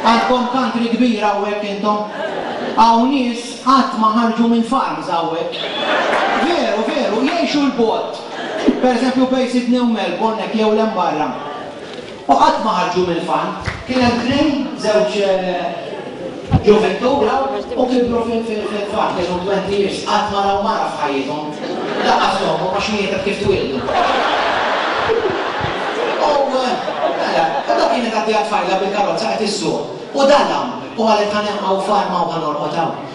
Għandkom country kbira hawnhekk intom? Hawn nies qatt ma ħarġu minn farms hawnhekk. Veru, veru, jgħixu 'l bogħod. Pereżempju bejn Sydney u Melbourne hekk jew 'l hemm barra. U qatt ma ħarġu mill-fann. Kien hemm tnejn, żewġ ġuvintu raw u kibru fil-fann, kellhom twenty years, qatt ma raw mara f'ħajjithom, lanqas ommhom għax mietet kif twieldu. U mela, u dak kienet għaddejja tfajla bil-karozza qed issuq u dalam u qalet ħa neħħa hawn f'arma u ħa norqod hawn.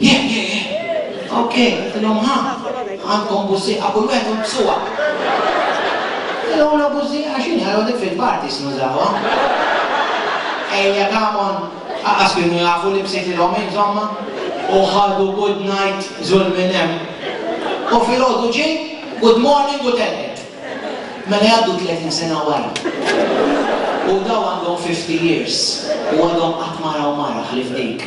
Heh heh heh. Ok, għedtilhom ha, għandkom bużżieqa, kull wieħed hu b'suha. L-ewwla bużżieqa x'inhi? Għal hawnhekk fil-parties nużawha. Ejja come on. Aqqas kienu jafu li bsejtilhom insomma. U ħadu good night żul minn hemm. U filgħodu ġie good morning u telqet. Mela jgħaddu tletin sena wara. U dawn għandhom fifty years u għadhom qatt ma raw mara ħlief dik.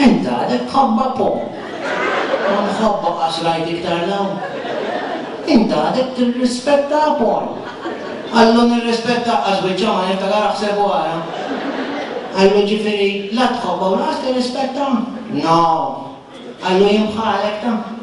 Int għadek tħabba' po'. Ma mħabba għax rajt iktar 'l hawn. Int għadek tirrispetta' Apol. Qallu nirrispetta' għax biċċa ma niftakar aħseb u ara. Qallu ġifieri la tħobba u lanqas tirrispetta'? No! Qallu jien bħalek ta.